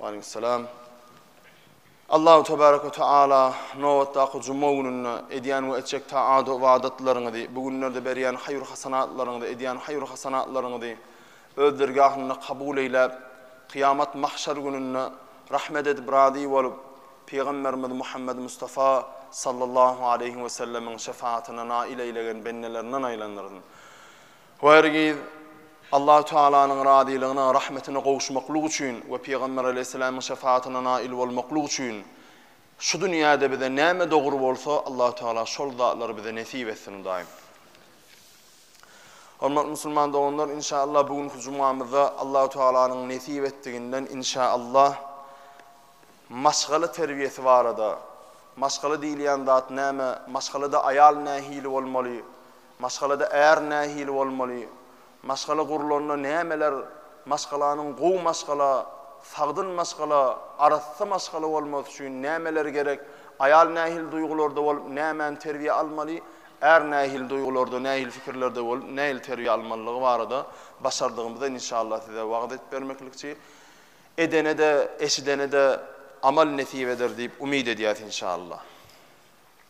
Waleýkumsalam. Allahu tebarek we taala nobatdaky juma gününde edýän we etjek taat ybadatlaryňyzy, bu günlerde berýän haýyr-hasanatlaryňyzy, edýän haýyr-hasanatlaryňyzy öz dergahynda kabul eýläp, kyýamat mahşer gününde rahmet edip razy bolup, Pygamberimiz Muhammed Mustafa sallallahu aleýhi we sellemiň şefaatine nail eýlegen bendelerinden aýlandyrsyn. Bu hergiz Allahu Tealanyň razylygyna, rahmetine gowuşmaklyk üçin we Pygamber aleýhissalamyň şefaatyna nail bolmaklyk üçin şu dünýäde bize näme dogry bolsa, Allahu Teala şol zatlary bize nesip etsin, Hudaýym. Hormatly musulman doganlar, inşallah bu günki jumamyzda Allahu Tealanyň nesip etdiginden inşallah maşgala terbiýesi barada, maşgala diýilýän zat näme, maşgalada aýal nähili bolmaly, Maşgalada är nähili bolmaly? Maşgala gurlanda nämeler Maşgalanyň gowy maşgala, sagdyn maşgala, arassa maşgala bolmasy üçin nämeler gerek? Aýal nähili duýgularda bolup, nämäni terbiýe almaly? Är nähili duýgularda, nähili pikirlerde bolup, nähili terbiýe almalydygy barada başardygymyza inşallah size wagyz edip bermeklikçi. Edene-de, eşidene-de amal nesip eder diýip umyt edýäs inşallah.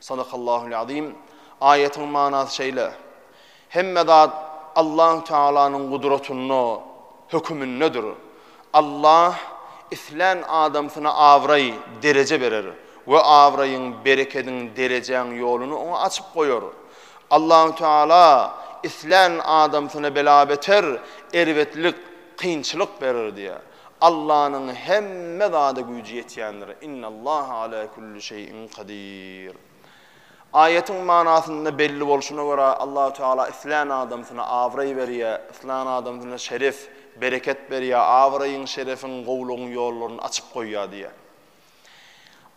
Sadakallahul azim. Aýatyň manasy şeýle, Hemme zat Allahu Tealanyň gudratynda, hökümindedir. Allah islän adamsyna abraý, dereje berer we abraýyň, berekediň, derejäň ýoluny oňa açyp goýar. Allahu Teala islän adamsyna bela-beter, erbetlik, kynçylyk berer diýýär. Allanyň hemme zada güýji ýetýändir. Innallaha ala kulli şeýin kadir. Aýatyň manasynda belli bolşuna görä, Allahu Teala islän adamsyna abraý berýär, islän adamsyna şeref, bereket berýär, abraýyň, şerefiň, gowulygyň ýollaryny açyp goýýar diýýär.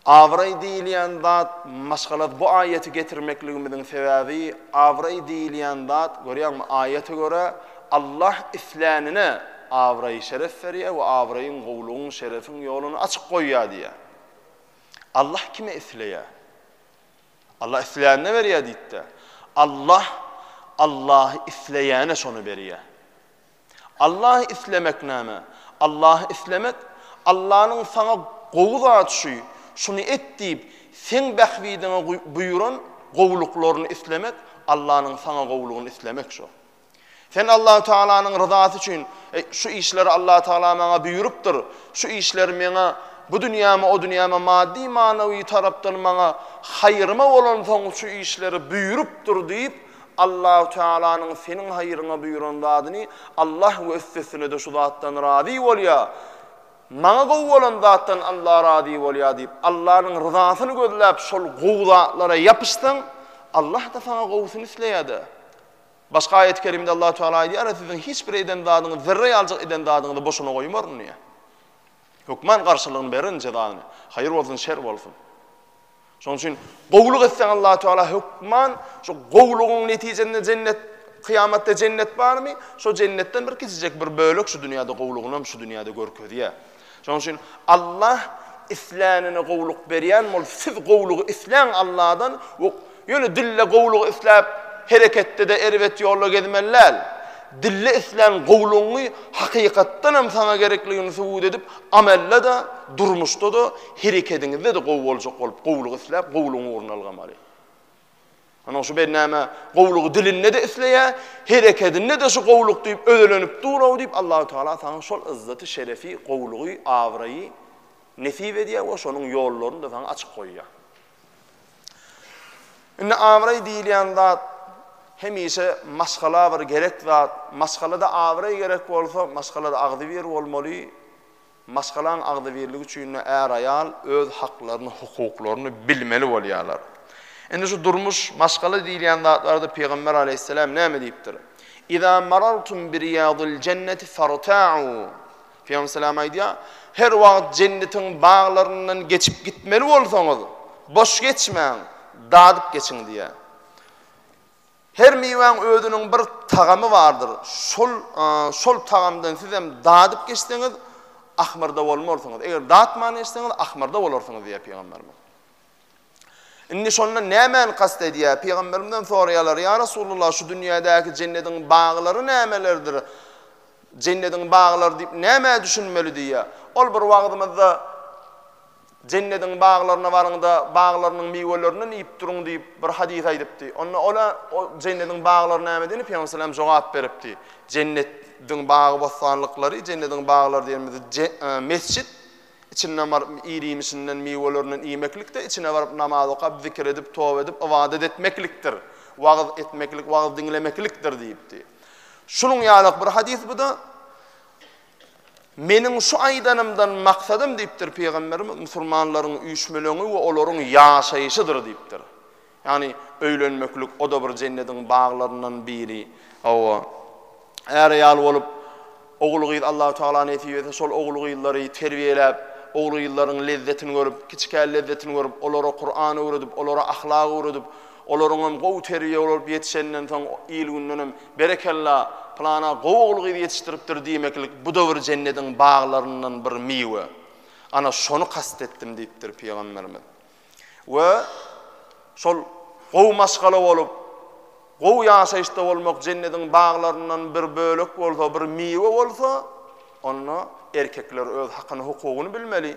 Abraý diýilýän zat, maşgala bu aýaty getirmekligimiziň sebäbi, abraý diýilýän zat, görýäňmi, aýata görä, Allah islänine abraý-şeref berýär we abraýyň, gowulygyň, şerefiň ýoluny açyk goýýar diýýär. Allah kime isleýär? Allah islänine berýär diýdi-de. Allah Allahy isleýäne şony berýär. Allahy islemek näme? Allahy islemek, Allanyň saňa gowy zat şu, şuny et diýip, seň bähbidiňe buýran gowulyklaryny islemek, Allanyň saňa gowulygyny islemek şu. Sen Allahu Tagalanyň ryzasy üçin, Eý, şu işleri Allahu Tagala maňa buýrupdyr, şu işleri meňe bu dünýäme, o dünýäme maddy-manawy tarapdan maňa haýryma bolansoň şu işleri buýrupdyr diýip, Allahu Tealanyň seniň haýryňa buýran zadyny Allah we üstesine-de şu zatdan razy bolýar, maňa gowy bolan zatdan Allah razy bolýar diýip, Allanyň ryzasyny gözläp şol gowy zatlara ýapyşsaň, Allah-da saňa gowusyny isleýär-de. Başga aýat-y kerimede Allahu Teala aýdýar, Siziň hiç bir eden zadyňyzy, zerre ýaljyk eden zadyňyzy boşuna goýmaryn diýýär. Hökman garşylygyny bererin, jezasyny. Haýyr bolsun, şer bolsun. Şonuň üçin gowulyk etseň Allahu Teala hökman şu gowulygyň netijesinde jennet Kyýamatda jennet barmy? Şo jennetden bir kiçijek bir bölek şu dünýäde gowulygyny hem şu dünýäde görkezýär. Şonuň üçin Allah islänine gowulyk berýän bolup, siz gowulygy isläň Allahdan we ýöne dille gowulygy isläp, hereketde-de erbet ýolda gezmeli däl. Dille islän gowulygyňy hakykatdan hem saňa gerekligini subut edip, amelde-de, durmuşda-da Herekediňizde-de gowy boljak bolup, gowulygy isläp, gowulygyň ugruna ylgamaly. Ynha, şu bennäme gowulygy dilinde-de isleýär, herekedinde-de şu gowulyk diýip özelenip dur-ow diýip, Allahu tagala saňa şol ýzzaty, şerefi, gowulygy, abraýy nesip edýär we şonuň ýollaryny-da saňa açyp goýýar. Indi abraý diýilýän zat hemişe maşgala bir gerek zat. Maşgalada abraý gerek bolsa, maşgalada agzybir bolmaly. Maşgalaň agzybirligi üçin-de är-aýal öz haklaryny, hukuklaryny bilmeli bolýarlar. Indi şu durmuş, maşgala diýilýän zatlarda Pygamber aleýhisselam näme diýipdir? Iza marartum bi riýadil jenneti farta'u. Pygamber salam aýdýar, Her wagt jennetiň baglaryndan geçip gitmeli bolsaňyz, boş geçmäň, dadyp geçiň diýýär. Her miwäň özüniň bir tagamy bardyr. Şol şol tagamdan sizem dadyp geçseňiz, ahmyrda bolmarsyňyz. Eger datman geçseňiz, ahmyrda bolarsyňyz diýýär Pygamberimiz. Indi şondan nämäni kast edýär? Pygamberimizden soraýarlar, ýa Resulullah, şu dünýädäki jennediň baglary nämelerdir? Jennediň baglary diýip nämä düşünmeli diýýär. Ol bir wagzymyzda Jennediň baglaryna baryň-da, baglarynyň miwelerinden iýip duruň diýip, bir hadys aýdypdy. Onda ola, O Jennediň baglary näme diýende, Pygamber salam jogap beripdi, Jennet diň bagy-bossanlyklary, Jennediň baglary diýenimiz je, e, mesjit, içinden baryp ir-iýmişinden, miwelerinden iýmeklik-de, içine baryp namaz okap, zikir edip, toba edip, ybadat etmeklikdir. Wagyz etmeklik, wagyz diňlemeklikdir diýipdi. Şunuň ýaly-ak bir hadys bu-da. Meniň şu aýdanymdan maksadym diýipdir Pygamberimiz, musulmanlaryň üýşmeleňi we olaryň ýaşaýşydyr diýipdir. Ýagny öýlenmeklik o-da bir jennediň baglaryndan biri. Hawa, är-aýal bolup, ogul-gyz Allahu tagala nesip etse şol ogul-gyzlary terbiýeläp, ogul-gyzlaryň lezzetini görüp, kiçikä lezzetini görüp, olara Kuran öwredip, olara ahlak öwredip, Olaryňam gowy terbiýe bolup ýetişenden soň il-gündenem Berekella, pylana gowy ogul-gyz ýetişdiripdir diýmeklik bu-da bir jennediň baglaryndan bir miwe. Ana, şony kast etdim diýipdir pygamberimiz. We şol gowy maşgala bolup, gowy ýaşaýyşda bolmak jennediň baglaryndan bir bölek bolsa, bir miwe bolsa, onda erkekler öz hakyny-hukugyny bilmeli.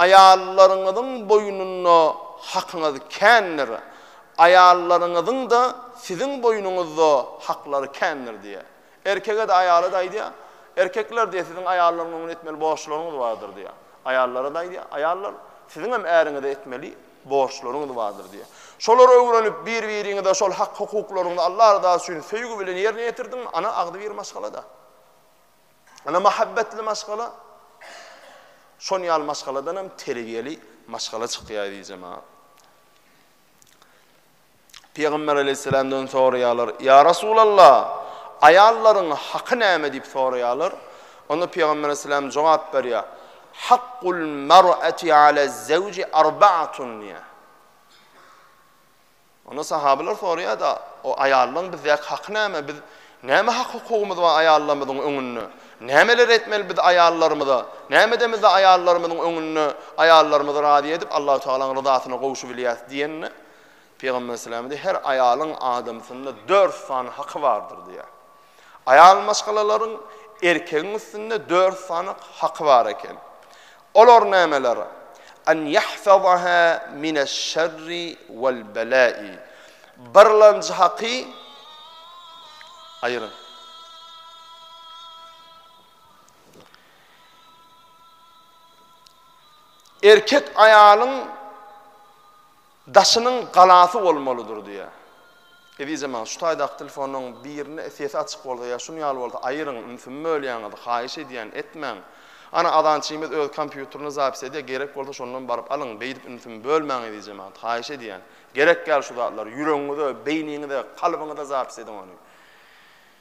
Aýallaryňyzyň boýnunda hakyňyz kändir, aýallaryňyzyň-da siziň boýnuňyzda haklary kändir diýýär. Erkege-de, aýala-da aýdýar, Erkekler diýýär, siziň aýallaryň öňünde etmeli borçlaryňyz bardyr diýýär. Aýallara-da aýdýar, Aýallar, siziň hem äriňize etmeli borçlaryňyz bardyr diýýär. Şolary öwrenip, bir-biriňize şol hak-hukuklaryňyzy Allah rydasy üçin söýgi bilen ýerine ýetirdiňmi, ana agzybir maşgala-da. Ene mähebbetli maşgala şon ýaly maşgaladan hem terbiýeli maşgala çykýar eziz jemagat. Pygamber aleyhisselamdan soraýarlar, Ya Rasulallah, aýallaryň haky näme diýip soraýarlar. Onda Pygamber aleyhisselam jogap berýär, Hakkul mar'ati ala zevci arba'atun diýär. Onda sahabylar soraýar-da, O aýallaryň bizdäki haky näme? Biz näme hak-hukugymyz bar aýallarymyzyň öňünde? Nämeler etmeli biz aýallarymyza? Näme edemizde aýallarymyzyň öňünde aýallarymyzy razy edip, Allahu tagalaň ryzasyna gowşubilýäris? diýende, Pygamber sallallahu aleýhi we sellem, Her aýalyň adamsynda dört sany haky bardyr diýýär. Aýal maşgalalaryň erkegiň üstünde dört sany haky bar eken. Olar nämeler? An yahfazaha mineş-şerri wal-bela'i. Birlenji haky Aýryň. Erkek aýalyň Daşynyň galasy bolmalydyr diýýär. Ezizem aga, şu taýdaky telefonlaryň birine sesi açyk bolsa ýa şun ýaly bolsa aýyryň, ümsüm bölýäňiz, haýyş edýän, etmäň. Ana, azançymyz öz kompýuterine zapis edýär, gerek bolsa şondan baryp alyň, beýdip ümsüm bölmäň ezizem aga, haýyş edýän. Gerek däl şu zatlar, ýüregiňize, beýniňize, kalbyňyza zapis ediň ony.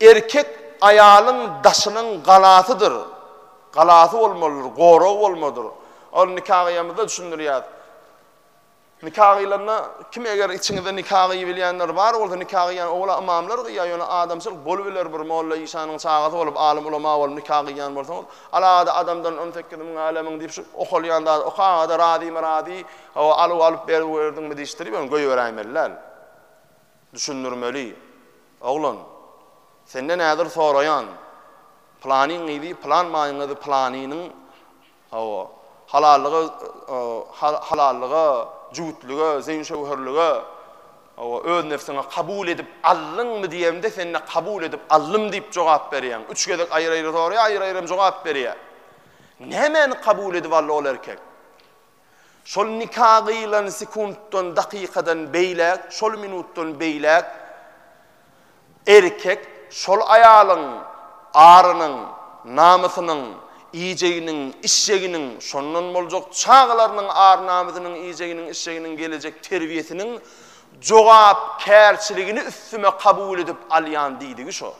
Erkek aýalyň daşynyň galasydyr, galasy bolmalydyr, goragy bolmalydyr. Ol nika gyýamyzda düşündirýär. Nika gyýlanda kim eger içiňizde nika gyýybilýänler bar bolsa nika gyýýan owala ymamlar gyýýar, ýöne adamçylyk bolubiler bir molla işanyň çagasy bolup, alym ulama bolup nika gyýýan bolsaňyz, alada adamdan on sekiz müň älemiň diýip şu okalýan zady okagada razymy razy, hawa alyw alyp berip berdiňmi diýişdirip ýöne goýberäýmeli däl. Düşündirmeli. Oglan, senden häzir soraýan, Pylanyň gyzy pylan maýyň gyzy pylanynyň, hawa, halallyga, halallyga, jübütlige, zeýin-şöwherlige, hawa, öz nebsiňe kabul edip aldyňmy diýemde sende kabul edip aldym diýip jogap berýäň. Üç gezek aýry-aýry soraýar, aýry-aýry hem jogap berýär. Nämäni kabul edip aldy ol erkek? Şol nika gyýylan sekuntdan, dakykadan beýläk, şol minutdan beýläk erkek şol aýalyň arynyň, namysynyň, iýjeginiň, içjeginiň, şondan boljak çagalarynyň ar-namysynyň, iýjeginiň, içjeginiň, gelejek terbiýesiniň jogapkärçiligini üstüme kabul edip alýan diýdigi şo.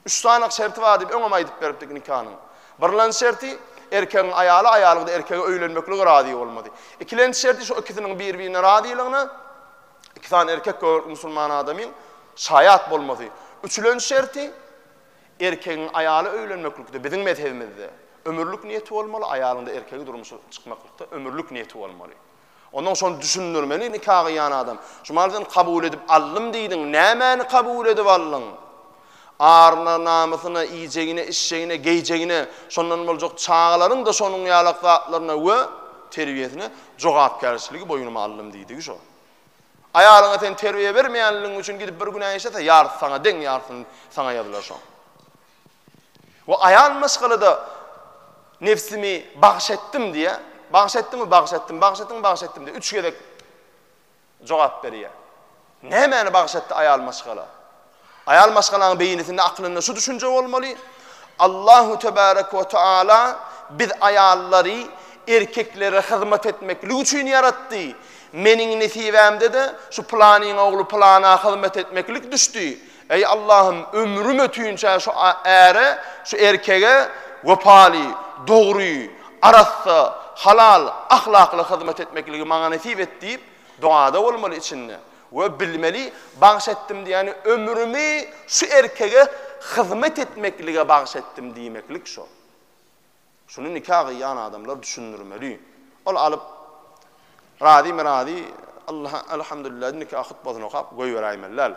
Üç sanyk şerti bar diýip öňem aýdyp beripdik nikanyň. Birlenji şerti, erkegiň aýaly, aýalyň-da erkege öýlenmeklige razy bolmaly. Ikilenji şerti şo ikisiniň bir-birine razylygyna iki sany erkek göwrek musulman adamyň şaýat bolmasy. Üçülenji şerti, erkegiň aýaly öýlenmeklikde, biziň mezhebimizde, ömürlik niýeti bolmaly, aýalyň-da erkege durmuşa çykmaklykda ömürlik niýeti bolmaly. Ondan şony düşündirmeli nika gyýan adam. Şumal sen kabul edip aldym diýdiň, nämäni kabul edip aldyň? Aryna, namysyna, iýjegine, içjegine, geýjegine, şondan boljak çagalaryň-da şonuň ýalak zatlaryna we terbiýesine jogapkärçiligi boýnuma aldym diýdigi şo. Aýalyňa sen terbiýe bermeýänligiň üçin gidip bir günä işlese, ýarysy saňa deň, ýarysyny saňa ýazylar şoň. We aýal maşgalada nebsimi bagyş etdim diýýär. Bagyş etdiňmi? Bagyş etdim. Bagyş etdiňmi? Bagyş etdim diýip, üç gezek jogap berýär. Nämäni bagyş etdi aýal maşgala? Aýal maşgalaň beýnisinde, aklynda şu düşünje bolmaly, Allahu tebarek we taala biz aýallary erkeklere hyzmat etmeklik üçin ýaratdy. Meniň nesibämde-de şu planyň ogly plana hyzmat etmeklik düşdi. Eý Allahym ömrüm ötünçä şu äre, şu erkege wepaly, dogry, arassa, halal, ahlakly hyzmat etmekligi maňa nesip et diýip dogada bolmaly içinde we bilmeli bagş etdim diýýäni ömrümi şu erkege hyzmat etmeklige bagş etdim diýmeklik şo. Şuny nika gyýan adamlar düşündirmeli. Ol alyp, razymy razy, Allaha alhamdulillah diýip nika hutbasyny okap goýberäýmeli däl.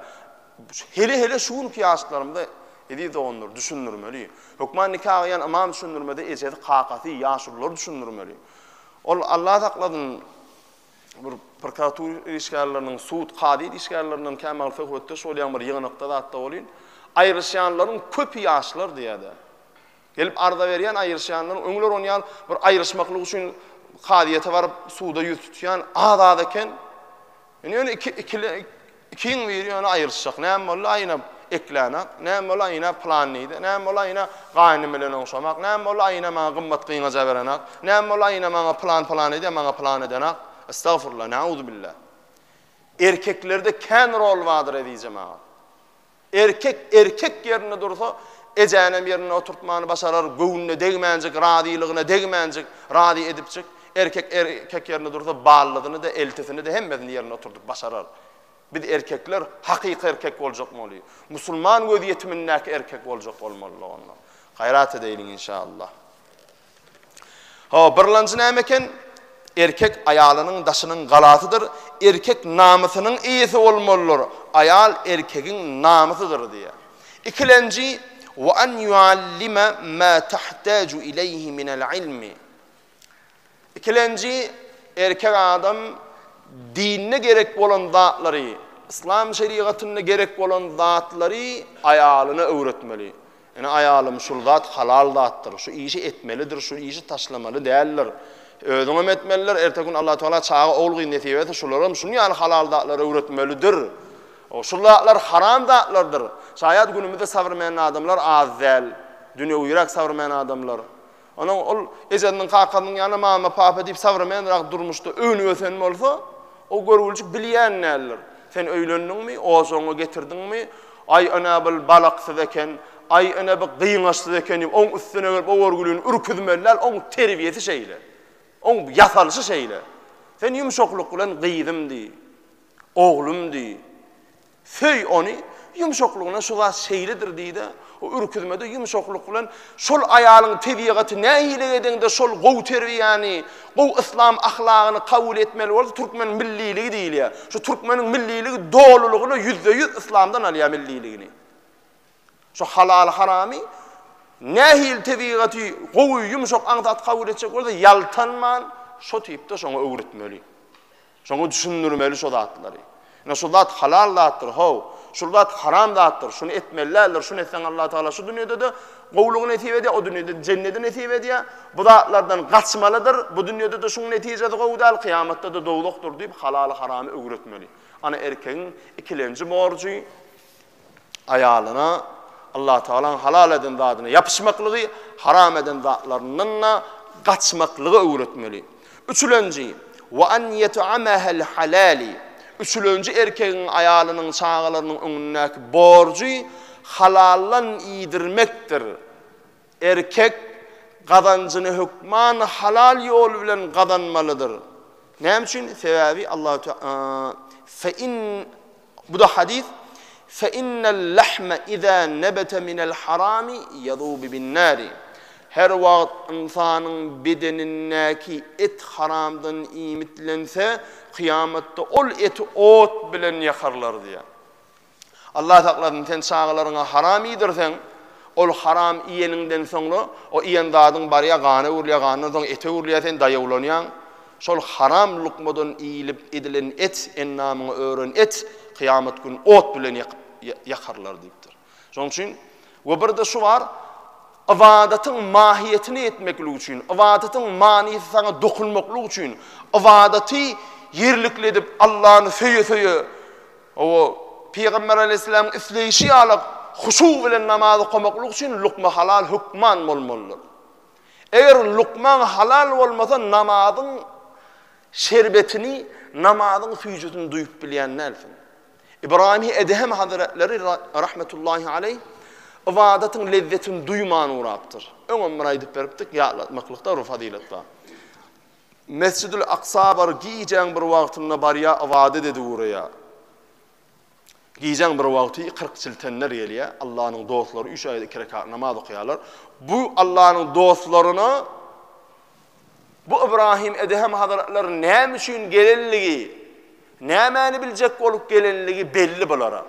Hele-hele şu günki ýaşlarymyza eziz doganlar düşündirmeli. Hökman nika gyýan ymam düşündirmese ejesi, kakasy, ýaşulular düşündirmeli. Ol Allah saklasyn bir prokuratura işgärleriniň, sud, kazy işgärlerinden kämagl söhbetdeş bolýan bir ýygnakda zatda bolýan. Aýryşýanlaryň köpi ýaşlar diýýär-de. Gelip arza berýän aýryşýanlaryň öňler on ýal bir aýryşmaklyk üçin kazyýete baryp suda ýüz tutýan az az eken. Indi ýöne iki ikili ikiň biri ýöne aýryşjak. Näme boldy aýna ekläne? Näme boldy aýna plan diýdi? Näme boldy aýna gaýnym bilen oňşamak? Näme boldy aýna maňa gymmat gyňaja berene? Näme boldy aýna maňa plan plan edýär, maňa plan edene? Estagfurullah, nauzubilla. Erkeklerde kän rol bardyr ezizem aga. Erkek erkek ýerinde dursa, ejänem ýerinde oturtmany başarar, göwnüne degmänjik, razylygyna degmänjik, razy edipjik, erkek erkek ýerinde dursa, ballysyny-da, eltisini-de, hemmesini ýerinde oturdyp başarar. Biz erkekler hakyky erkek boljakmaly. Musulman gözýetimindäki erkek boljak bolmalydyk onda. Gaýrat edeýliň inşallah. Ho, birlanjy näme eken? Erkek aýalynyň daşynyň galasydyr, erkek namysynyň eýesi bolmalydyr, aýal erkegiň namysydyr diýýär. Ikilenji, Wa an yuallime ma tahtaju ileýhi minel ilmi. Ikilenji, erkek adam dinde gerek bolan zatlary, yslam şerigatynda gerek bolan zatlary aýalyna öwretmeli. Ine, aýalym, şul zat halal zatdyr, şu işi etmelidir, şu işi taşlamaly däldir. Özüňem etmelidir, erteki gün Alla Tagala çaga, ogul-gyz nesip etse, şularam şunuň ýaly halal zatlary öwretmelidir. Şul zatlar haram zatlardyr. Şaýat günümizde sabrmen adamlar az däl. Dünýewiräk sabrmen adamlar. Onuň ol ejesiniň, kakasynyň ýaly mama, papa diýip sowremenrak durmuşda önüp-ösen bolsa, o görgüljik bilýän däldir. Sen öýlendiňmi, ojagyňy getirdiňmi, Aý, ene, bul balaksyz eken, Aý, ene, bu gyňaçsyz eken diýip, oň üstüne gelip, o görgülini ürküzmeli däl, oň terbiýesi şeýle. Oň ýasalyşy şeýle. Sen ýumşaklyk bilen gyzym diý, oglum diý. Söý ony, ýumşaklygyna şu zat şeýledir diý-de, o ürküzmede ýumşaklyk bilen, Şol aýalyň tebigaty nähili edeňde şol gowy terbiýäni, gowy yslam ahlagyny kabul etmeli bolsa, türkmen milliligi diýilýär. Şu türkmeniň milliligi dolulygyna ýüzde-ýüz yslamdan alýar milliligini. Şu halaly-haramy nähili tebigaty gowy, ýumşak aňsat kabul etjek bolsa, ýaltanman şo tipde şoňa öwretmeli. Şoňa düşündirmeli şo zatlary. Ine şu zat halal zatdyr, how, şul zat haram zatdyr, şuny etmeli däldir, şuny etseň Allah Tagala şu dünýede-de gowulygy nesip edýär, o dünýede jennedi nesip edýär, bu zatlardan gaçmalydyr, bu dünýede-de şuň netijesi gowy däl, kyýamatda-da dowzahdyr diýip halaly haramy öwretmeli. Ana erkegiň ikilenji borjy. aýalyna Allatagalaň halal eden zadyna ýapyşmaklygy, haram eden zatlaryndan-da gaçmaklygy öwretmeli. Üçülenji, Wa an ýet'amahal halali, Üçülenji erkegiň aýalynyň, çagalarynyň öňündäki borjy halaldan iýdirmekdir. Erkek gazanjyny hökman halal ýol bilen gazanmalydyr. Näme üçin? Sebäbi Allahu Teala fe in bu-da hadys fe innel lahme iza nebete minel harami yazubu bin nari. Her wagt ynsanyň bedenindäki et haramdan iýmitlense, kyýamatda ol eti ot bilen ýakarlar diýýär. Allah saklasyn, sen çagalaryňa haram iýdirseň, ol haram iýeniňden soňra, o iýen zadyň barýar, gana öwrülýär, gandan soň ete öwrülýär, sen daýawlanýaň. Şol haram lukmadan iýlip edilen et, endamyňa ören et, kyýamat gün ot bilen ýakyp, ýakarlar diýipdir. Şonuň üçin, we bir-de şu bar, ybadatyň mahyýetini etmeklik üçin, ybadatyň manysy saňa dokunmaklyk üçin, ybadaty ýerlikli edip, Allany söýe-söýe, O, Pygamber aleýhissalamyň isleýşi ýaly huşu bilen namaz okamaklyk üçin lukma halal hökman bolmalydyr. Eger lukmaň halal bolmasa namazyň şerbetini, namazyň süýjüsini duýup bilýän dälsiň. Ybraýymy Edehem hazretleri rahmetullahi aleýh ybadatyň lezzetini duýman ugrapdyr. Öňem bir aýdyp beripdik, ýatlatmaklykda bir fazylet bar. Mesjidül Aksa bar, gijäň bir wagtynda barýar, ybadat edip ugraýar. Gijäň bir wagty kyrk çiltenler gelýär, Allanyň dostlary üç aýda iki rekat namaz okaýarlar. Bu Allanyň dostlaryna bu Ybraýym Edehem hazretleriniň näme üçin gelenligi, nämäni biljek bolup gelenligi belli bulara.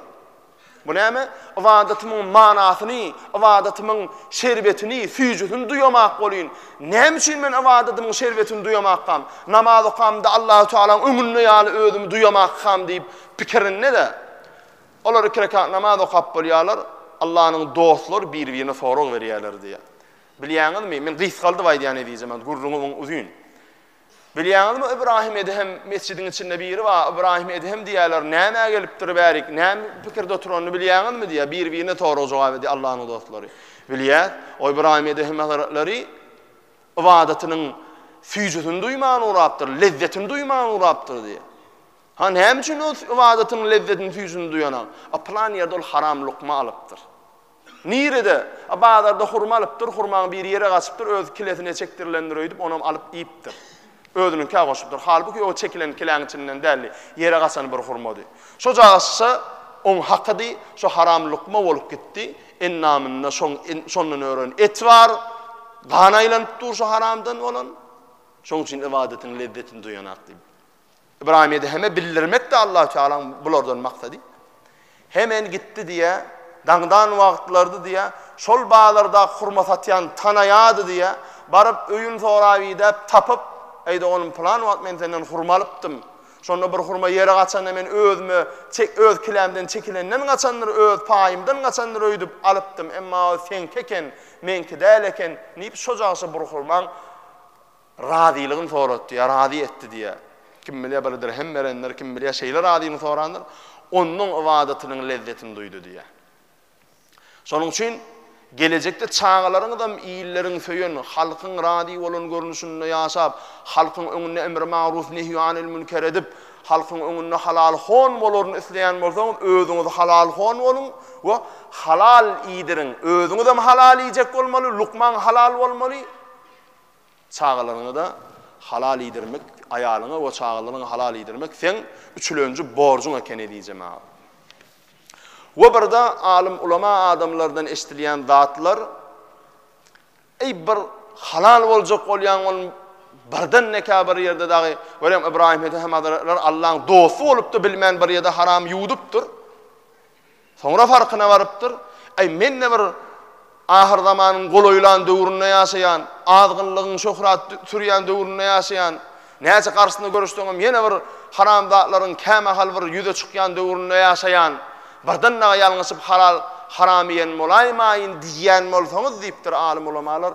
Bu näme? Ybadatymyň manasyny, ybadatymyň şerbetini, süýjüsini duýamak bolýyn. Näme üçin men ybadatymyň şerbetini duýamakkam? Namaz okamda Allahu Tagalaň öňünde ýaly özümi duýamakkam diýip pikirinde-de, olar iki rekat namaz okap bolýarlar, Allanyň dostlary bir-birine sorag berýärler diýýär. Bilýäňizmi, men gysgaldyp aýdýan eziz jemagat, gürrüňim uzyn. Bilýäňizmi, Ybraýym Edhem mesjidiň içinde biri bar, Ybraýym Edhem diýýärler, nämä gelipdir bärik, näme pikirde oturanyny bilýäňizmi diýýär, bir-birine sorag jogap edýär Allanyň dostlary. Bilýäs, o Ybraýym Edhem hazratlary ybadatynyň süýjüsini duýman urapdyr, lezzetini duýman urapdyr diýýär. Ha näme üçin ol ybadatynyň lezzetini süýjüsini duýanak? A pylan ýerde ol haram lukma alypdyr. Nirede? A bazarda hurma alypdyr, hurmaň biri ýere gaçypdyr, öz kilesine çekdirilendir öýdüp, onam alyp iýipdir. Özüniňkä goşupdyr. Halbuki o çekilen kiläň içinden däldi, ýere gaçan bir hurmady. Şo caşsa oň hakydy, şo haram lukma bolup gitdi. Endamynda şoň şondan ören et bar, gan aýlanyp dur şo haramdan bolan. Şoň üçin ybadetin lezzetini duýanak diýip. Ybraýym Edeheme bildirmekdi Allahu Tealaň bulardan maksady. Hemen gitdi diýä, daňdan wagtlardy diýä, şol bazarda hurma satýan tanaýady diýä, baryp öýün sorap idäp tapyp, Eýde oglum pylan wagt men senden hurma alypdym. Şonda bir hurma ýere gaçanda men özüme çek öz kilämden çekilenden gaçandyr, öz paýymdan gaçandyr öýdüp alypdym, emma o seňki eken, meňki däl eken diýip şojagça bir hurmaň Razylygyny soratdy ýa razy etdi diýýär. Kim bilýär, bir dirhem berendir, kim bilýär, şeýle razylygyny sorandyr. Ondan ybadatynyň lezzetini duýdy diýýär. Şonuň üçin gelejekde çagalaryňyzam illeriň söýen, halkyň razy bolan görnüşinde ýaşap, halkyň öňünde emri magruw nehýu anil münker edip, halkyň öňünde halal hon bolaryny isleýän bolsaňyz, özüňiz halal hon boluň we halal iýdiriň. Özüňizem halal iýjek bolmaly, lukmaň halal bolmaly. Çagalaryňy-da halal iýdirmek, aýalyňy we çagalaryňy halal iýdirmek seň üçülenji borjuň eken ezijem aga. We birde alym ulama adamlardan eşdilýän zatlar, Eý bir halal boljak bolýaň ol birden nekä bir ýerde dagy görem Ybraýym Hedehemazretler Allaň dosty bolup-da bilmän bir ýerde haram ýuwdupdyr. Soňra farkyna barypdyr, Äý, men-de bir ahyrzamanyň golaýlan döwründe ýaşaýan, azgynlygyň şöhrat sürýän döwründe ýaşaýan, näçe garşysyna göreşseňem ýene bir haramzatlaryň kämahal bir ýüze çykýan döwründe ýaşaýan, birden dagy ýalňyşyp halal, haram iýen bolaýmaýyn diýýän bolsaňyz diýipdir alym-ulamalar,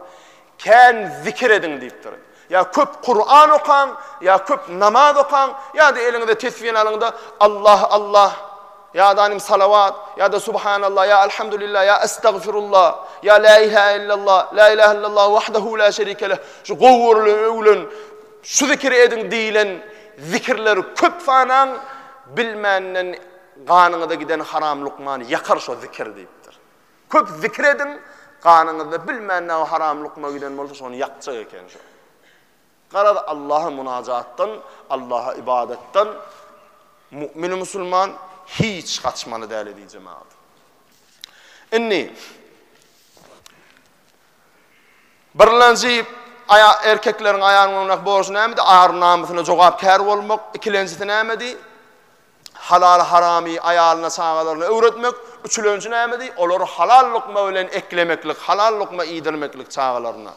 Kän zikir ediň diýipdir. Ýa köp Kuran okaň, ýa köp namaz okaň, ýa-da eliňize tesbini alyň-da, Allah, Allah, ýa-da anym salawat, ýa-da subhanallah, ýa alhamdulillah, ýa estagfirullah, ýa la ilahe illallah, la ilahe illallah wahdahu la şerike leh, şu gowy görülen, öwülen, şu zikiri ediň diýilen zikirleri köp sanaň, bilmänden ganyňyza giden haram lukmany ýakar şo zikir diýipdir. Köp zikir ediň, ganyňyzda bilmän näme haram lukma giden bolsa şony ýakjak eken şu. Garaz Allaha munajatdan, Allaha ybadatdan mu'min musulman hiç gaçmaly däl edi jemagat. Indi Birlenji aya erkekleriň aýanyň öňündäki borjy nämedi? Ar namysyna jogapkär bolmak. Ikilenjisi nämedi? Halal-haramy aýalyna-çagalaryna öwretmek, üçülenji nämedi? Olary halal lukma bilen eklemeklik, halal lukma iýdirmeklik çagalaryna.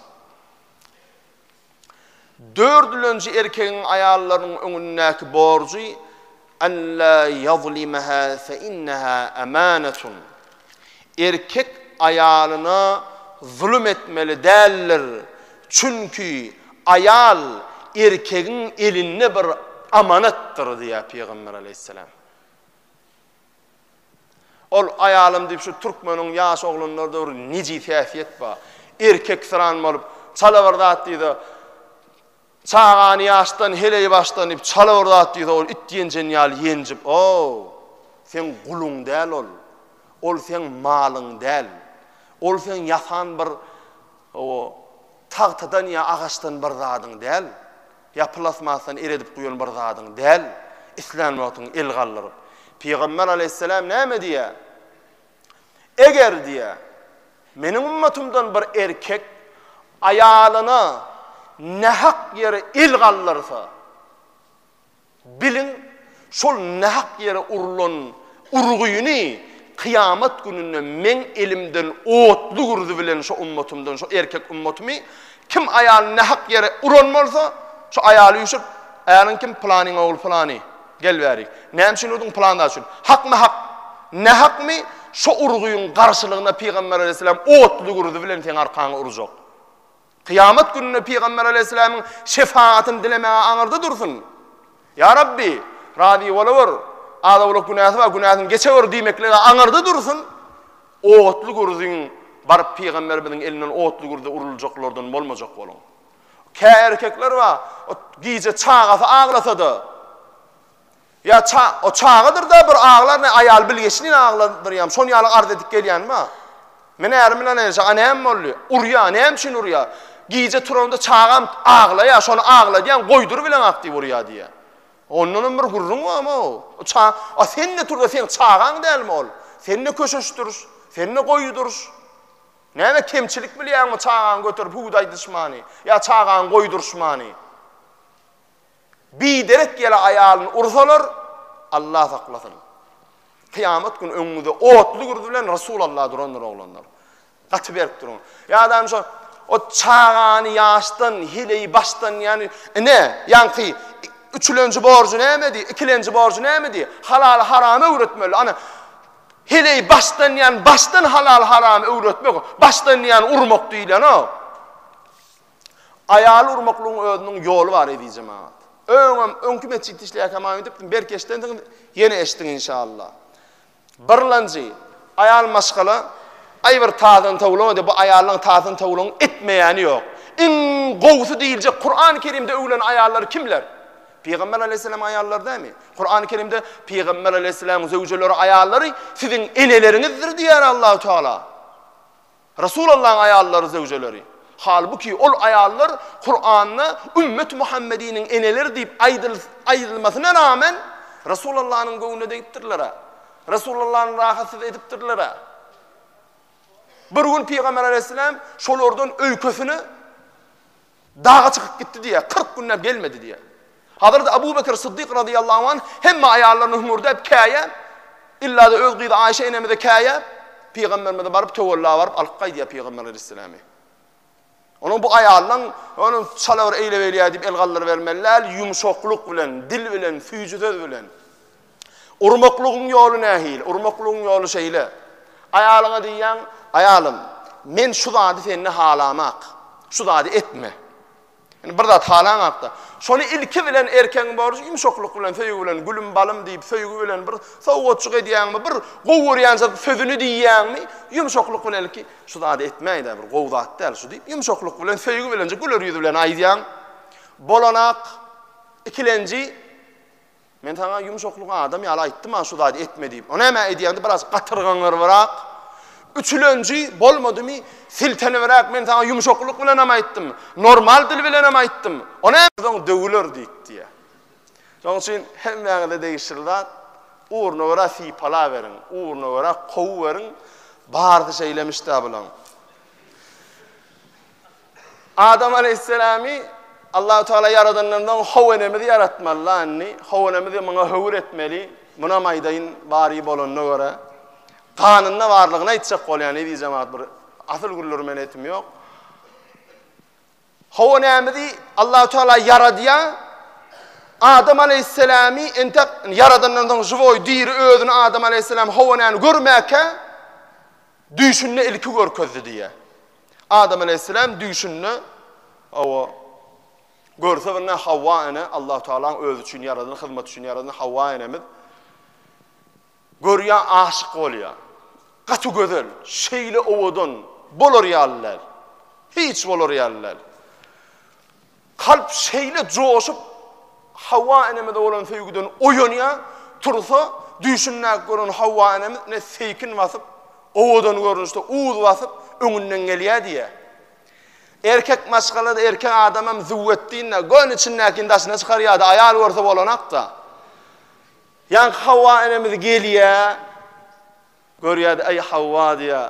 Dördülenji erkegiň aýallarynyň öňündäki borjy, Alla ýazlimaha fe inneha amanatun. Erkek aýalyna zulum etmeli däldir, çünki aýal erkegiň elinde bir amanatdyr diýýär Pygamber aleýhissalam. Ol aýalym diýip şu türkmeniň ýaş oglanlarda bir nejis häsiýet bar. Erkeksyran bolup, çala bir zat diýdi. Çagany ýaşdan heleý başlanyp çala bir zat diýse ol it ýenjen ýaly ýenjip ow! Seň guluň däl ol. Ol seň malyň däl. Ol seň ýasan bir ow tagtadan ýa agaçdan bir zadyň däl. Ýa plasmasdan eredip guýan bir zadyň däl. Islän wagtyň el galdyryp. Pygamber aleýhissalam näme diýýär? Eger, diýýä, Meniň ümmetymdan bir erkek aýalyna nähak ýere el galdyrsa, biliň, şol nähak ýere urlan urgyny kyýamat gününde Meň elimden otly gürzy bilen şo ümmetymden, şo erkek ümmetymy, kim aýalyny nähak ýere uran bolsa, şo aýaly üýşüp, Äriň kim? Pylanyň ogly pylany. Gel bärik. Näme üçin urdyň? Pylanda üçin. Hakmy hak? Nähakmy? Şo urgyň garşylygyna Pygamber aleýhissalam otly gürzi bilen seň arkaňy urjak. Kyýamat gününe Pygamber aleýhissalamyň şefagatyny dilemäge aňyrda dursun. Ýa Rabbi, razy bolawor. Az-owlak günäsi bar, günäsini geçewor diýmeklige aňyrda dursun. Otly gürziň baryp Pygamberimiziň elinden otly gürze uruljaklardan bolmajak boluň. Kä erkekler bar, o gije çagasy aglasa-da, ýa ça, o çagadyr-da bir aglar, ne aýaly bilgeşleýin agladyr ýa şon ýaly arz edip gelýän bar. Men ärim bilen enişe, a näme boldy? Urýar, näme üçin urýar? Gije turanda çagam aglaýar, şony agladýan, goýdur bileňak diýip urýar diýýär. Ondanam bir gürrüň barmy o? O ça, a sen-de tur-da, seň çagaň dälmi ol? Sen-de köşeşdir, sen-de goýudyr. Näme kemçilik bilýäňmi çagaňy göterip hut aýdyşmany ýa çagaňy goýduryşmany? Biderek ýele aýalyny ursalar, Allah saklasyn. Kyýamat güni öňüňizde otly gürzi bilen Resul Allah durandyr oglanlar. Gaty berk duruň. Ýadam şu o çagany ýaşdan, hileyi başdan ýany ine, ýanki üçülenji borjy nämedi, ikilenji borjy nämedi? Halaly haramy öwretmeli. Ana Heleý başdan ýan başdan halal haramy öwretmek başdan ýan urmak diýilenok. Aýaly urmaklygyň özüniň ýoly bar ezijem agat. Öňem öňki metjitde işleýärkäm aýdypdym belki eşidensiňiz ýene eşidiň inşallah. Birlanjy aýal maşgala aý bir tazyny towlama diýip bu aýallaryň tazyny towlagyň etmeýäni ýok. Iň gowusy diýiljek Kuran Kerimde öwülen aýallar kimler? Pygamber aleýhissalam aýallar dämi? Kurany Kerimde Pygamber aleýhissalam zöwjeleri aýallary siziň eneleriňizdir diýýär Allahu Teala. Resul Allah'yň aýallary zöwjeleri. Halbuki ol aýallar Kuranda ümmet Muhammediniň eneleri diýip aýdyl aýdylmasyna rağmen Resul Allah'yň göwnüne degipdirler. Resul Allah'yň rahatsyz edipdirler. Bir gün Pygamber aleýhissalam şolardan öýkesini Daga çykyp gitdi diýýär, kyrk günläp gelmedi diýýär. Hazreti Abu Bekr Syddyk razyýallahu anh hemme aýallaryna hüňürdäp käýäp, illa-da öz gyzy Aýşe enemize käýäp, pygamberimize baryp töwella baryp alyp gaýdýar pygamber aleýhissalamy. Onuň bu aýalynyň onuň çala bir eýle-beýle diýip el galdyrybermeli däl, ýumşaklyk bilen, dil bilen, süýji söz bilen. Urmaklygyň ýoly nähili? Urmaklygyň ýoly şeýle. Aýalyňa diýýäň, Aýalym, men şu zady sende halamak. Şu zady etme. Indi bir zat halaňakda, şony ilki bilen erkegiň borjy ýumşaklyk bilen, söýgi bilen, gülüm, balym diýip, söýgi bilen bir sowgatjyk edýäňmi, bir gowy görýän sözüni diýýäňmi, ýumşaklyk bilen ilki, Şu zady etmäý-dä, bir gowy zat däl şu diýip, ýumşaklyk bilen, söýgi bilenje, güler ýüz bilen aýdýaň. Bolanak, ikilenji, Men saňa ýumşaklyk adam ýaly aýtdym-a şu zady etme diýip. O näme edýäňdi biraz gatyrgaňyrbyrak. Üçülenji bolmadymy siltenibräk men saňa ýumşaklyk bilenem aýtdym. Normal dil bilenem aýtdym. O näme soň döwüler diýip diýýä. Şonuň üçin hemmäňize degişli zat ugruna görä sypalaweriň, ugruna görä kowuweriň. Barsy şeýlemiş-dä bulaň. Adam aleýhissalamy Allahu tagala ýaradandan soň how enemizi ýaratmaly landy. How enemizi muňa höwür etmeli. Munam aýdaýyn bary bolanyna görä. Ganynda barlygyny aýtjak bolýan eziz jemagat bir asyl gürleri men etim ýok. How enemizi Allahu tagala ýaradýa. Adam aleýhissalamy entek ýaradandan soň žiwoý diri özüni Adam aleýhissalam how enemi görmäkä Düýşünde ilki görkezdi diýýär. Adam aleýhisselam düýşünde, hawa, görse birine Hawa ene, Allahu Tagalaň özi üçin ýaradan, hyzmat üçin ýaradan Hawa enemiz görýär, aşyk bolýar. Gaty gözel, şeýle owadan, bolar ýaly däl. Hiç bolar ýaly däl. Kalp şeýle joşup, Hawa enemize bolan söýgüden oýanýar, tursa, düýşündäki gören Hawa enemiz ne seýkin basyp, owadan görnüşde uz basyp, öňünden gelýär diýýär. Erkek maşgala-da, erkek adamam züwwetdin-de, göni içindäkini daşyna çykarýar-da, aýal görse bolanak-da. Ýaňky Hawa enemiz gelýär, Görýärdi, Eý, Hawa, diýýär,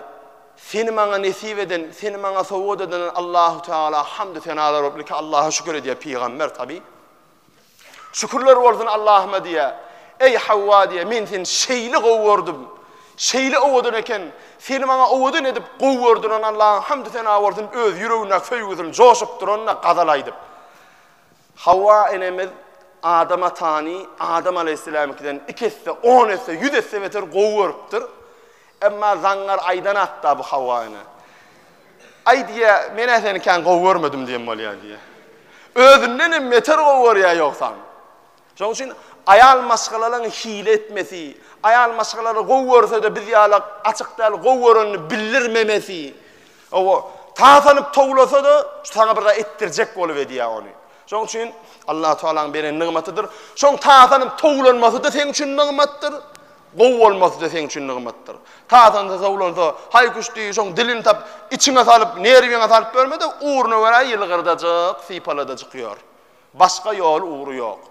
seni maňa nesip eden, seni maňa sowgat eden Allahu Tagala hamdy senalar bolsun, ilki Allaha şükür edýär pygamber tabi. Şükürler bolsun Allahuma diýýär. Eý, Hawa, diýýär, men seni şeýle gowy gördüm, şeýle owadan eken, seni maňa owadan edip gowy gördüren Allaha hamdy sena bolsun, öz ýüregindäki söýgüsini joşup duranyna gazal aýdyp. Hawa enemiz Adam atany Adam alaýhyssalamyňkydan iki esse, on esse, ýüz esse beter gowy görüpdir. Emma zaňňar aýdan hakda bu Hawa ene. Aý diýýär, men-ä seni kän gowy görmedim diýen bolýar diýýär. Özünden hem beter gowy görýär ýogsam. Şonuň üçin aýal maşgalalaryň hile etmesi, aýal maşgalalary gowy görse-de biz ýaly açyk däl gowy görenini bildirmemesi, Hawa, tasanyp towlasa-da, şu saňa bir zat etdirjek bolup edýär ony. Şonuň üçin Allahu Taalanyň beren nygmatydyr. Şoň tasanyp towlanmasy-da seň üçin nygmatdyr. Gowy bolmasy-da seň üçin nygmatdyr. Tasansa towlansa, haý-küş diý, şoň dilini tap, içiňe salyp, nerwiňe salyp ýörme-de, ugruna görä ýylgyrdajyk, sypaladajyk ýör. Başga ýoly, ugry ýok.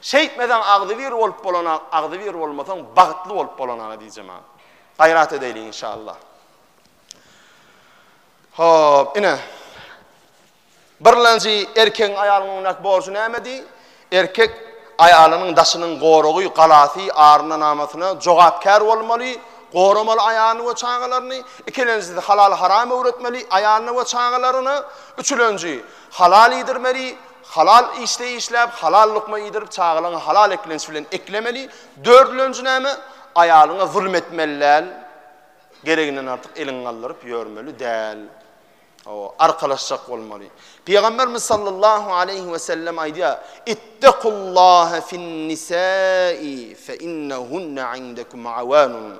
Şeýtmeseň agzybir bolup bolanak, agzybir bolmasaň bagtly bolup bolanaga diýjemä. Gaýrat edäýliň inşallah. Hop, ine. Birlenji erkegiň aýalyň öňündäki borjy nämedi? Erkek aýalynyň daşynyň goragy, galasy, aryna-namysyna jogapkär bolmaly, goramaly aýalyny we çagalaryny. Ikilenjisi halal-haram öwretmeli aýalyna we çagalaryna. Üçülenji, halal iýdirmeli, halal işde işläp, halal lukma iýdirip, çagalaryňy halal eklenç bilen eklemeli. Dördülenji näme? Aýalyňa zulum etmeli däl. Gereginden artyk eliňi galdyryp ýörmeli däl. Hawa, arkalaşjak bolmaly. Pygamberimiz sallallahu aleýhi we sellem aýdýar, Ittaqullaha fin-nisai fe innahunna indakum awanun.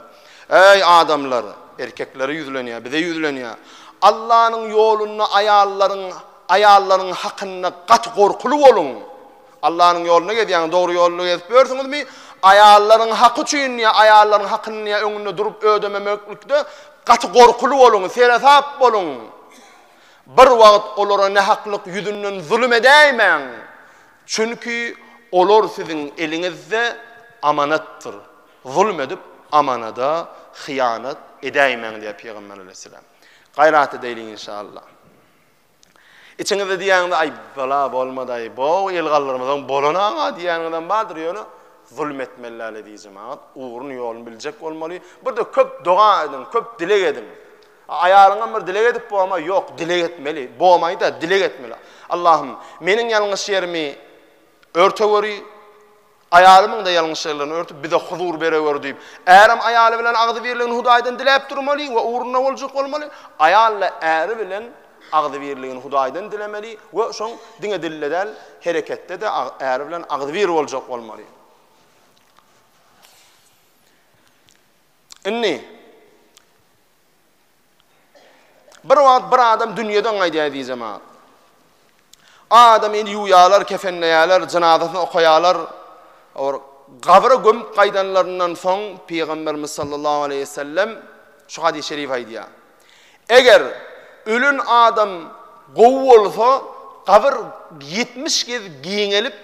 Eý adamlar, erkeklere ýüzlenýär, bize ýüzlenýär. Allanyň ýolunda aýallaryň, aýallaryň hakynda gaty gorkuly boluň. Allanyň ýolunda gezýäňiz, dogry ýolda gezip ýörsüňizmi? Aýallaryň haky üçin ýa aýallaryň hakyny ýa öňünde durup ödememeklikde gaty gorkuly boluň, seresap boluň. Bir wagt olara nähaklyk ýüzünden zulum edäýmäň. Çünki olar siziň eliňizde amanatdyr. Zulum edip amanada hyýanat edäýmäň diýýär Pygamber aleýhissalam. Gaýrat edäýliň inşallah. Içiňizde diýýäňiz, Aý, bala, bolmadaý, bow, el galdyrmasaň bolana-a diýýäniňizem bardyr, ýöne zulum etmeli däl eziz jemagat, ugrun ýolun biljek bolmaly. Bir-de köp doga ediň, köp dileg ediň. Aýalyňam bir dileg edip bowama, ýok, dileg etmeli, bowamaýda, dileg etmeli. Allahym, meniň ýalňyş ýerimi örte göri, Aýalymyň-da ýalňyşlyklaryny örtüp, bize huzur berewer diýip, ärem aýaly bilen agzybirligini Hudaýdan diläp durmaly we ugruna boljak bolmaly, aýal-da äri bilen agzybirligini Hudaýdan dilemeli we şoň diňe dilde däl, hereketde-de äri bilen agzybir boljak bolmaly. Indi. Bir wagt bir adam dünýeden gaýdýar eziz jemagat. Adamyny ýuwýarlar, kefenleýärler, jynazasyny okaýarlar. Or gabra gömüp gaýdanlaryndan soň Pygamberimiz sallallahu aleyhi ve sellem şu hadis-i şerif aýdýar. Eger ölen adam gowy bolsa, gabyr 70 gez giňelip,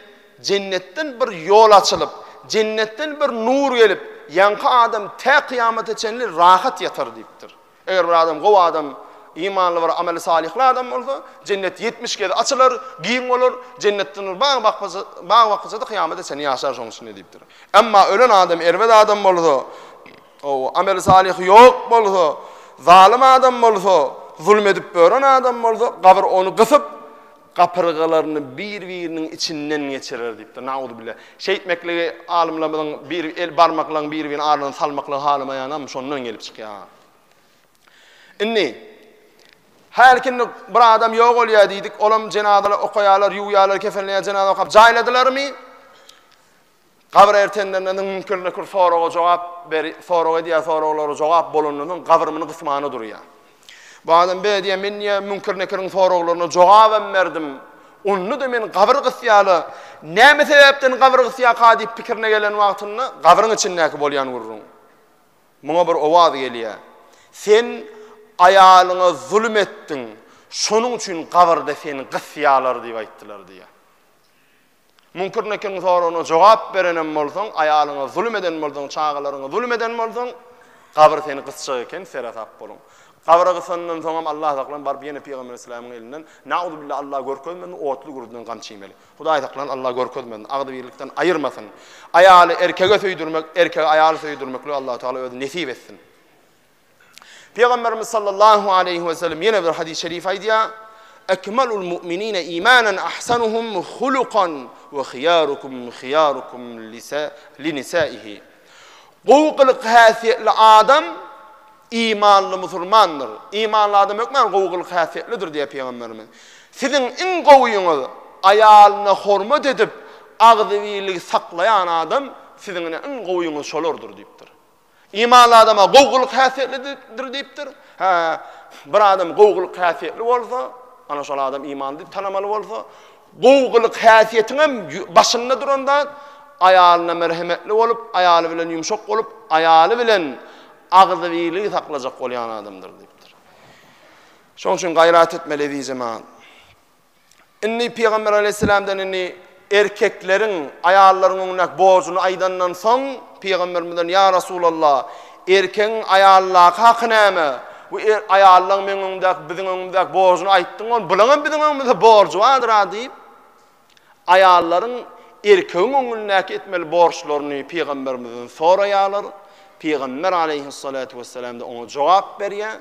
Jennetden bir ýol açylyp, jennetden bir nur gelip, ýaňky adam tä kyýamata çenli rahat ýatar diýipdir. Eger bir adam gowy adam, imanly bir ameli salyhly adam bolsa, jennet ýetmiş gezek açylar, giň bolar, jennetden bir bag bakja, bag bakja-da kyýamata çenli ýaşar şonuň içinde diýipdir. Emma ölen adam erbet adam bolsa, ow, ameli salyhy ýok bolsa, zalym adam bolsa, zulum edip ören adam bolsa, gabyr ony gysyp, gapyrgalaryny bir-biriniň içinden geçirer diýipdir. Nauzubile. Şeýtmekligi alymlarymyzyň bir el barmaklaryň bir-biriniň arasyna salmaklygy halamaýanam şondan gelip çykýar. Indi Her kimde bir adam ýok bolýar diýdik, olam jenazalary okaýarlar, ýuwýarlar, kefenleýär, jenaza okap jaýladylarmy? Gabyr ertenlerine niň müňkirde kür soraga jogap ber sorag edýär soraglara jogap bolanda niň gabyr mini gysmana durýar. Bu adam be diýýär men diýýär müňkir nekiriň soraglaryna jogabam berdim. Onda-da men gabyr gysýala näme sebäpden gabyr gysýaka diýip pikirine gelen wagtynda gabyryň içindäki bolýan gürrüň. Muňa bir owaz gelýär. Sen aýalyňa zulum etdiň. Şonuň üçin gabyrda seni gysýalar diýip aýtdylar diýýär. Münkür Nekiriň soragyna jogap berenem bolsaň, aýalyňa zulum eden bolsaň, çagalaryňa zulum eden bolsaň, gabyr seni gysjak eken, seresap boluň. Gabyra gysandan soňam Allah saklan baryp ýene pygamber islämiň elinden nauzubilla Allah görkezmesin otly gürrüden gan çiýmeli. Hudaý saklan Allah görkezmesin, agzybirlikden aýyrmasyn. Aýaly erkege söýdürmek, erkegi aýaly söýdürmeklik Allah Taala özi nesip etsin. Pygamberimiz sallallahu aleýhi we sellem ýene bir hadys-y şerif aýdýar, Ekmalul mu'minine imanen ahsanuhum hulukan ve hiyarukum hiyarukum li nisaihi. Gowy gylyk häsiýetli adam imanly musulmandyr. Imanly adam hökman gowy gylyk häsiýetlidir diýýär pygamberimiz. Siziň iň gowyňyz aýalyna hormat edip, agzybirligi saklaýan adam siziň iň gowyňyz şolardyr diýipdir. Imanly adama gowgylyk häsiýetlidir diýipdir. Hä, bir adam gowgylyk häsiýetli bolsa, ana şol adam imanly diýip tanamaly bolsa, gowgylyk häsiýetiň hem başynda duran zat aýalyna merhemetli bolup, aýaly bilen ýumşak bolup, aýaly bilen agzybirligi saklajak bolýan adamdyr diýipdir. Şonuň üçin gaýrat etmeli ezizim. Indi Pygamber aleýhissalamdan indi erkekleriň aýallaryň öňündäki borjuny aýdandan soň, Pygamberimizden, Ýa Resulallah, erkegiň aýaldaky haky näme? Bu aýallaň meň öňümdäki, biziň öňümizäki borjuny aýtdyň ol, bulaň hem biziň öňümizde borjy bardyr-a diýip, aýallaryň erkegiň öňündäki etmeli borçlaryny Pygamberimizden soraýarlar. Pygamber aleýhissalatu wessalam-da oňa jogap berýär.